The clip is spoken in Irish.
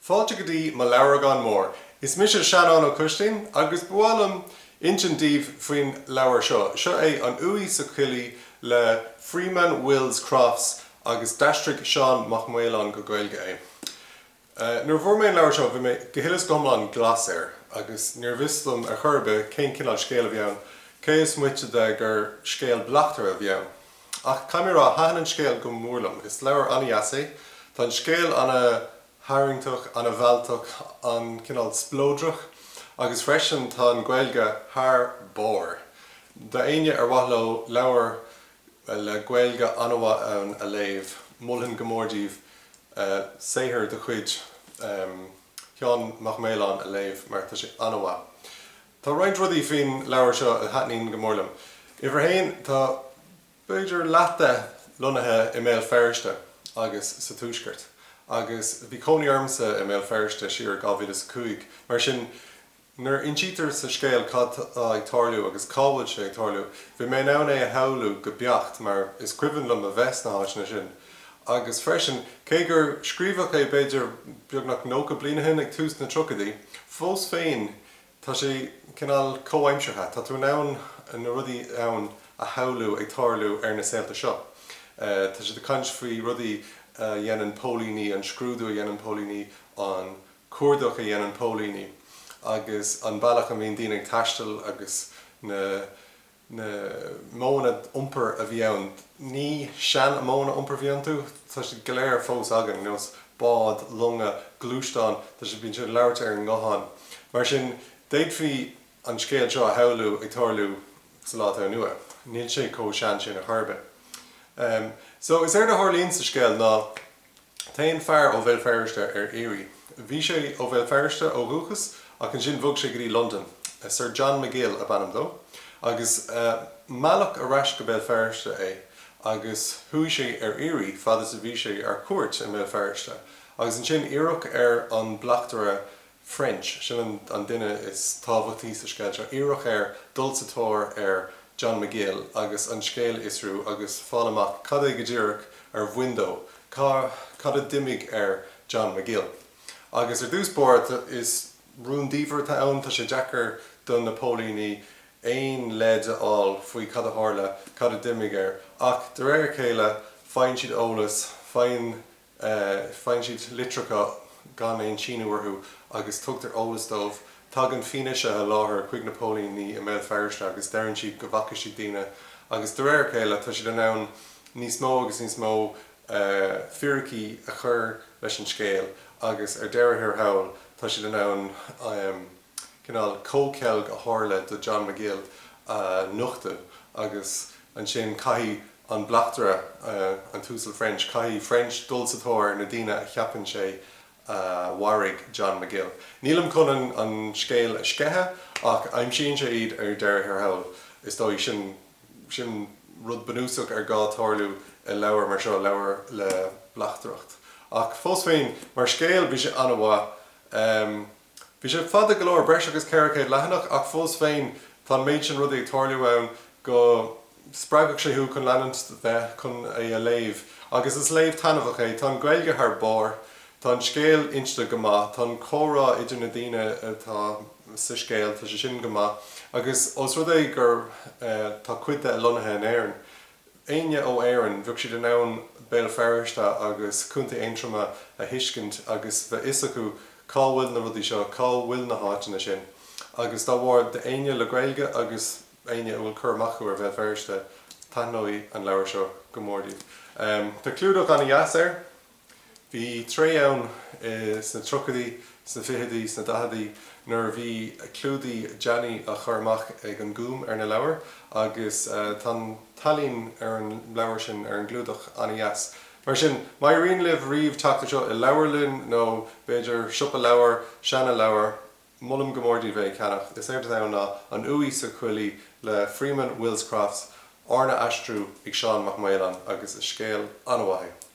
Fáilte go dtí mo leabhragán mór. Is mise Seanán Ó Coistín agus ba mhaith liom insint daoibh faoin leabhar seo. Seo é An Uaigh sa Choillidh le Freeman Wills Crofts agus d'aistrigh Seán Mac Maoláin go Gaeilge é. Nuair a bhfuair mé an leabhar seo bhí mé go huile is go hiomlán glas air agus níorbh fhios dom ar chor ar bith cén cineál scéil a bhí ann, cé is moite de gur scéal bleachtaire a bhí ann. Ach caithfidh mé a rá, thaitin an scéal go mór liom. Is leabhar an-deas é. Tá an scéal an-tharraingteach, an-mhealltach, cineál spleodrach agus freisin tá an Ghaeilge thar barr. Do éinne ar mhaith leo leabhar le Gaeilge an-mhaith ann a léamh, mholfainn go mór daoibh saothar de chuid Sheán Mac Maoláin a léamh mar tá sé an-mhaith. Tá roinnt rudaí faoin leabhar seo a thaitníonn go mór liom. Uimhir a haon, tá b'fhéidir leath de lonnaithe i mBéal Feirste agus sa tuaisceart agus bhí cónaí ormsa i mBéal Feirste siar i 2005, mar sin nuair a insítear sa scéal cad tá ag tarlú agus cá bhfuil sé ag tarlú, bhí mé in ann é a shamhlú go beacht mar is cuimhin liom a bheith sna háiteanna sin agus freisin, cé gur scríobhadh é b'fhéidir beagnach nócha bliain ó shin, ag tús na dtríochaidí, fós féin Tá sé cineál comhaimseartha. Tá tú in ann na rudaí ann a shamhlú ag tarlú ar na saolta seo. Tá siad ag caint faoi rudaí a dhéanann póilíní, an scrúdú a dhéanann póilíní, an cuardach a dhéanann póilíní agus an bealach a mbíonn daoine ag taisteal agus na. na modhanna iompair a bhí ann, ní seanmhodhanna iompair a bhí iontu, tá siad go léir fós againn, ar nós bád, longa, gluaisteáin, tá siad, bíonn siad ag labhairt ar an nguthán. Mar sin, d'fhéadfaí an scéal seo a shamhlú ag tarlú sa lá atá inniu ann. Níl sé chomh sean sin ar chor ar bith. So, is éard a tharlaíonn sa scéal ná. Téann fear ó Bhéal Feirste ar iarraidh. Bhí sé ó Bhéal Feirste ó dhúchas ach ansin bhog sé go dtí Londain. Sir John McGill ab ainm dó agus mealladh ar ais go Béal Feirste é agus chuaigh sé ar iarraidh fad is a bhí sé ar cuairt i mBéal Feirste agus ansin iarradh ar an bleachtaire French. Sin an duine is tábhachtaí sa scéal seo. Iarradh air dul sa tóir ar John McGill agus an scéal a fhiosrú agus fáil amach cad é go díreach a bhain dó, cad a d'imigh ar John McGill. Agus ar dtús báire is rúndiamhair atá ann, tá sé deacair do na póilíní aon leid a fháil faoi cad a tharla, cad a d'imigh air. Ach de réir a chéile faigheann siad eolas, faigheann. faigheann siad litreacha gan aon síniú orthu agus tugtar eolas dóibh. Tagann fianaise i láthair chuig na póilíní i mBéal Feirste agus deireann siad go bhfaca siad daoine agus de réir a chéile tá siad in ann níos mó agus níos mó fíricí a chur leis an scéal agus ar deireadh thiar thall tá siad in ann an cineál comhcheilg a tharla do John McGill a nochtadh agus ansin caithfidh an bleachtaire, an tUasal French, caithfidh French dul sa tóir ar na daoine a cheapann sé a mharaigh John McGill. Nílim chun an scéal a sceitheadh ach aimsíonn sé iad ar deireadh thiar thall. Is dóigh, sin rud bunúsach ar gá tarlú i leabhar mar seo, leabhar le bleachtaireacht. Ach fós féin, mar scéal, bhí sé an-mhaith. Bhí sé fada go leor, breis agus 400 leathanach, ach fós féin tá an méid sin rudaí ag tarlú ann go spreagfadh sé thú chun leanúint chun é a léamh. Agus is léamh taitneamhach é. Tá an Ghaeilge thar barr, tá an scéal inste go maith, tá an comhrá idir na daoine atá sa scéal, tá sé sin go maith, agus os rud é gur tá cuid de lonnaithe in Éirinn, éinne ó Éirinn, bheadh siad in ann Béal Feirste agus Contae Aontroma a thuiscint agus bheadh fhios acu cá bhfuil na rudaí seo, cá bhfuil na háiteanna sin. Agus dá bharr, d'éinne le Gaeilge agus éinne a bhfuil cur amach acu ar Bhéal Feirste, taitneoidh an leabhar seo go mór daoibh. Tá clúdach an-deas air. Bhí tréimhse ann sna triochaidí, sna ficheadaí, sna daicheadaí nuair a bhí clúdaigh deasa á chur amach ag an Gúm ar na leabhair agus tá an t-ealaín ar an leabhar sin, ar an gclúdach, an-deas. Mar sin, má éiríonn libh riamh teacht air seo i leabharlann nó b'fhéidir siopa leabhar, seanleabhar, molaim go mór daoibh é a cheannach. Is éard atá ann ná An Uaigh sa Choillidh le Freeman Wills Crofts, arna aistriú ag Seán Mac Maoláin agus is scéal an-mhaith é.